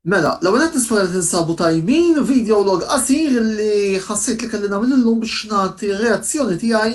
Mela, l-ewwel nett nispera li tinsabu tajbin, video log qasir li ħassejt li kelli nagħmel illum biex nagħti r-reazzjoni tiegħi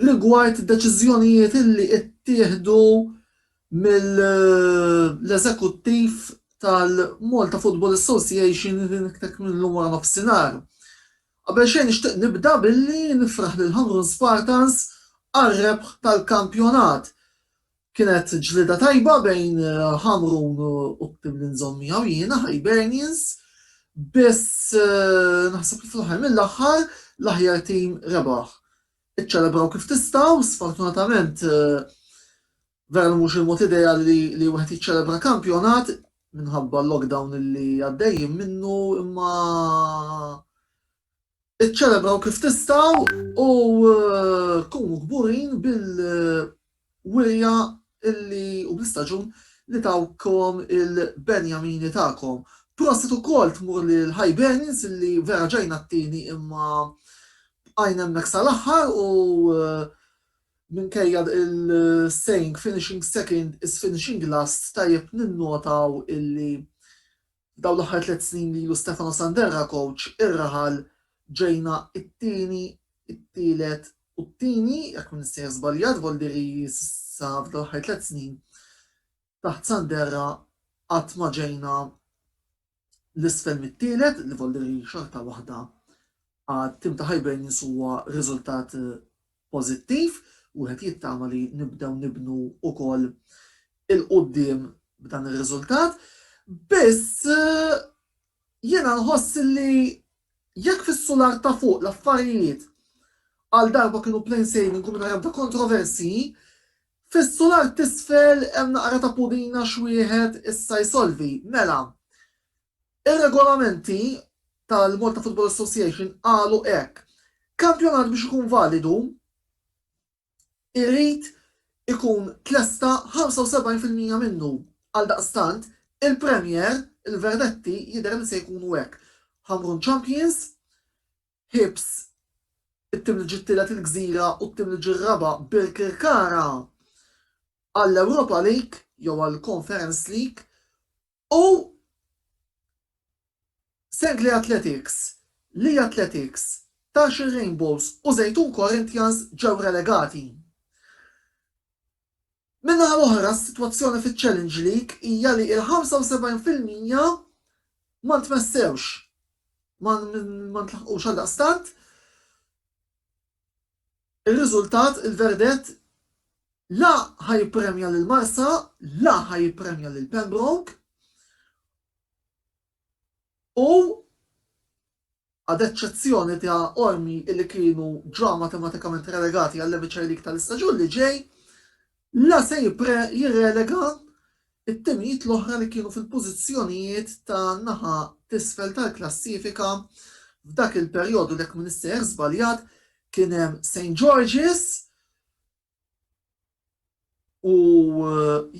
rigward deċiżjonijiet illi ittieħdu mill-eżekuttiv tal-Malta Football Association dak illum waranofsinhar. Qabel xejn nixtieq nibda billi nifraħ lil Ħamrun Spartans għar-rebħ tal-kampjonat. Kienet ġlieda tajba bejn Ħamrun u t-tim li nżomm miegħu jiena, Hibernians, biss naħseb li fl-aħħar mill-aħħar l-aħjar tim rebaħ. Iċċelebraw kif tistgħu, sfortunatament vera li mhux il-mod ideali li wieħed jiċċelebra kampjonat minħabba l-lockdown li għaddejjin minnu imma Iċċelebraw kif tistgħu u kunu kburin bil-wirja u bl-istaġun li tawkom il-Benjamini tagħkom. Prosit ukoll tmur lil Hibernians li vera ġejna t-tieni imma bqajna hemmhekk sal-aħħar u minkejja l-saying finishing second is finishing last tajjeb ninnotaw illi Dawn l-aħħar tliet snin li ilu Stefano Sanderra kowċ ir-raħal ġejna t-tieni, it-tielet u t-tieni, jekk m'iniex sejjer żbaljat, Voldiri sa f'dawn l-aħħar tliet snin taħt Sanderra qatt ma ġejna 'l isfel mit-tielet, li Voldiri xorta waħda għat-tim ta' Hibernians huwa riżultat pożittiv, wieħed jittama li nibdew nibnu wkoll 'il quddiem b'dan ir-riżultat, biss jiena nħoss li jekk fis-sular ta' fuq l-affarijiet għal darba kienu plain sailing u mingħajr ebda kontroversji, fis-sular t'isfel hemm naqra ta' pudina x'wieħed issa jsolvi. Mela, Ir-regolamenti tal-Malta Football Association qalu hekk, Kampjonat biex ikun validu irid ikun tlesta 75 fil-mija minnu. Għaldaqstant, il-Premier, il-verdetti jidher li se jkunu hekk, Ħamrun Champions, Hibs it-tim li ġie t-tielet il-Gżira u t-tim li ġie r-raba' Birkirkara għall-Europa League jew għall-Conference League U Sengli Athletics, Lee Athletics, Taxil Rainbows u Żejtun Corinthians ġew relegati. Min-naħa l-oħra s-sitwazzjoni fiċ-Challenge League hija li l-75 fil-mija ma ntmessewx, ma ntlaħqux għaldaqstant Ir-riżultat, il-verdett, la ħa jippremja lil Marsa, la ħa jippremja lil Pembroke u ad eċċezzjoni ta' Qormi li kienu ġa matematikament relegati għall-Emiċer League tal-istaġun li ġej, La se jirrelega t-timijiet l-oħra li kienu fil-pożizzjonijiet tan-naħa t'isfel tal-klassifika f'dak il-perjodu li jekk m'iniex sejjer żbaljat kien hemm St George's u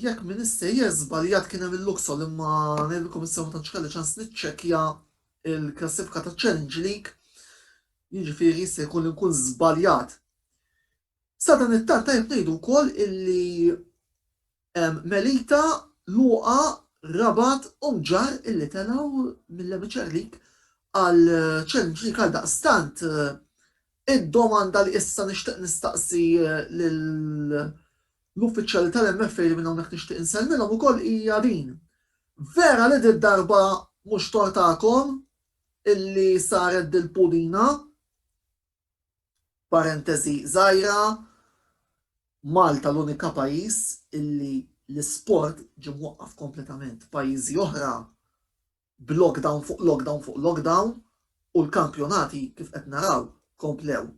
jekk m'iniex sejjer żbaljat kien hemm il-Luxol imma ngħidilkom issa ma tantx kelli ċans niċċekkja l-klassifika taċ-Challenge League, jiġifieri jista' jkolli nkun żbaljat. Sadanittant tajjeb ngħidu wkoll illi Melita, Luqa, Rabat u Mġarr illi telgħu mill-Emiċer League għal Challenge League għaldaqstant id-domanda li issa nixtieq nistaqsi lill-uffiċjali tal-MFA li minn hawnhekk nixtieq insellmilhom ukoll hija din, vera li did-darba mhux tort tagħkom illi saret dil-pudina Parentesi żgħira, Malta l-unika pajjiż illi l-isport ġie mwaqqaf kompletament. Pajjiżi oħra b'lockdown fuq lockdown fuq lockdown u l-kampjonati kif qed naraw komplew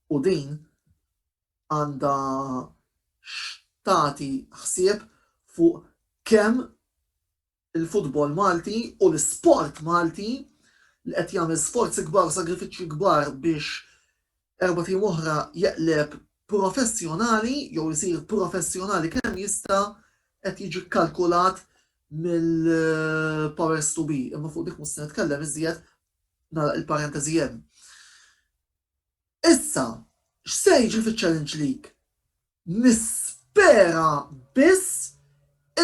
u din għandha x'tagħti ħsieb fuq kemm il-futbol Malti u l-isport Malti li qed jagħmel sforzi kbar u sagrifiċċji kbar biex erbat ijiem oħra jeqleb professjonali jew isir professjonali kemm jista' qed jiġi kkalkulat mill-powers to be imma fuq dik mhux se nitkellem iżjed nagħlaq il-parenteżi hemm. Issa, x'se jiġri fiċ-Challenge League? Nispera biss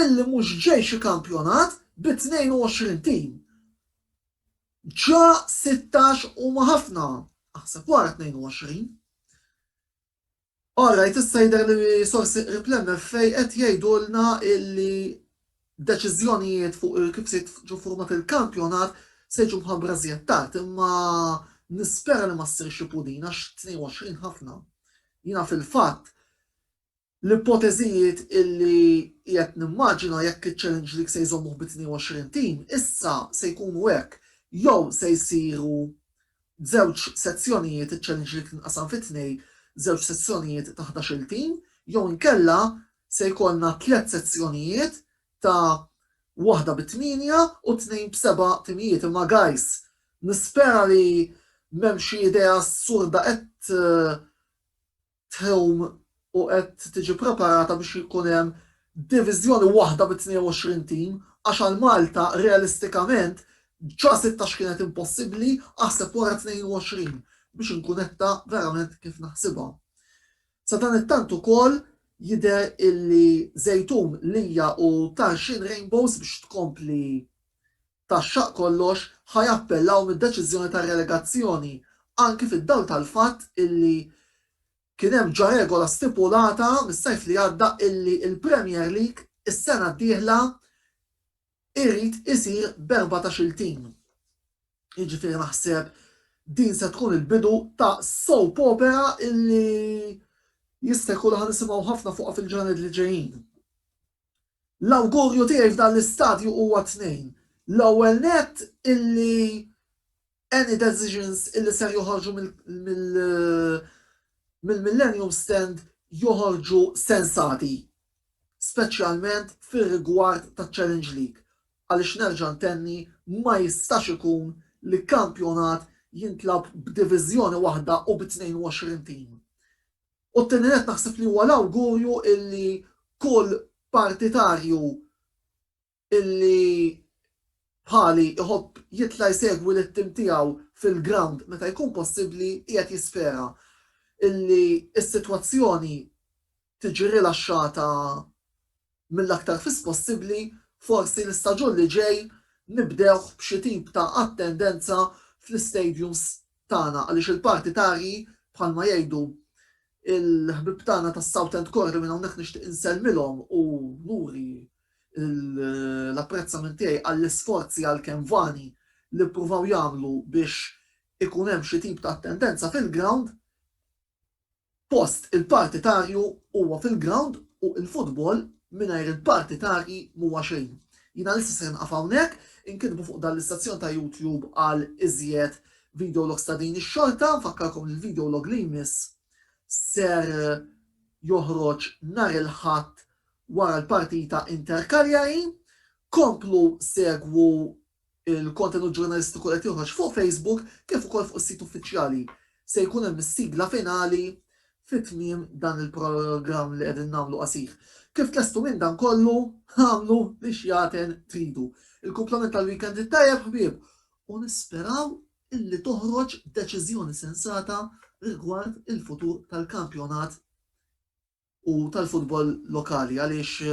illi mhux ġej xi kampjonat bi 22 tim. Ġa sittax huma ħafna, aħseb wara 22. All right, issa jidher li sorsi qrib l-MFA qed jgħidulna illi deċiżjonijiet fuq kif se jiġu ffurmat il-kampjonat se jiġu mħabbra żjed tard imma nispera li ma ssirx xi pudin għax 22 ħafna. Jiena fil-fatt l-ipoteżijiet illi qiegħed nimmaġina jekk iċ-Challenge League se jżommuh bi 22 tim issa se jkunu hekk, jew se jsiru Żewġ sezzjonijiet, iċ-challenge li tinqasam fi tnej, żewġ sezzjonijiet ta' ħdax-il tim, jew inkella se jkollna tliet sezzjonijiet ta' waħda bi tmienja u tnejn b'seba' timijiet. Imma guys, nispera li m'hemm xi idea assurda qed tħum u qed tiġi ppreparata biex jkun hemm diviżjoni waħda bi 22 tim għax għal Malta realistikament ġa 16 kienet impossibbli aħseb wara 22 biex inkun netta verament kif naħsibha. Sadanittant ukoll jidher illi Żejtun, Lija u Tarxien Rainbows biex tkompli ta' xaqq kollox ħa jappellaw mid-deċiżjoni tar-relegazzjoni, anki fid-dawl tal-fatt illi kien hemm ġa regola stipulata mis-sajf li għadda illi l-Premier League is-sena d-dieħla jrid isir b'erbatax-il tim. Jiġifieri naħseb din se tkun il-bidu ta' soap opera illi jista' jkun li ħa nisimgħu ħafna fuqha fil-ġranet li ġejjin. L-awgurju tiegħi f'dan l-istadju huwa tnejn, l-ewwel nett illi any decisions illi ser joħorġu mill-Millennium Stand joħorġu sensati, speċjalment fir-rigward taċ-Challenge League għaliex nerġa' ntenni ma jistax ikun li kampjonat jintlagħab b'diviżjoni waħda u bi 22 tim. U t-tieni nett naħseb li huwa l-awgurju illi kull partitarju illi bħali iħobb jitla' jsegwi lit-tim tiegħu fil-grawnd meta jkun possibbli qiegħed jispera illi s-sitwazzjoni tiġi rilaxxata mill-aktar fis possibbli, forsi l-istaġun li ġej nibdewh b'xi tip ta' attendenza fl-istadiums tagħna għaliex il-partitarji bħalma jgħidu l-ħbieb tagħna tas-Southend Core li minn hawnhekk nixtieq insellmilhom u nuri l-apprezzament tiegħi għall-isforzi għalkemm vani li ppruvaw jagħmlu biex ikun hemm xi tip ta' attendenza fil-grawnd, Post il-partitarju huwa fil-grawnd u l-futbol mingħajr il-partitarji m'huwa xejn. Jiena lissa se nqaf hawnhekk, inkitbu fuq dan l-istazzjon ta' YouTube għal iżjed videologs ta' din ix-xorta, nfakkarkom li l-videolog li jmiss ser joħroġ nhar il-Ħadd wara l-partita Inter-Cagliari. Komplu segwu Il-kontenut ġurnalistiku li qed joħroġ fuq Facebook kif ukoll fuq is-sit uffiċjali. Se jkun hemm is-sigla finali fi tmiem dan il-programm li qegħdin nagħmlu qasir. Kif tlestu minn dan kollu, agħmlu li x'jaten tridu. Il-kumplament tal-weekend it-tajjeb ħbieb u nisperaw illi toħroġ deċiżjoni sensata rigward il-futur tal-kampjonat u tal-futbol lokali għaliex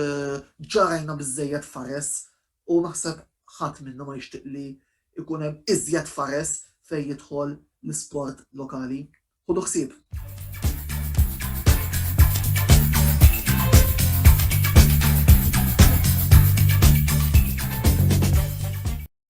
ġa rajna biżżejjed fares u naħseb ħadd minna ma jixtieq li jkun hemm iżjed fares fejn jidħol l-isport lokali. Ħudu ħsieb!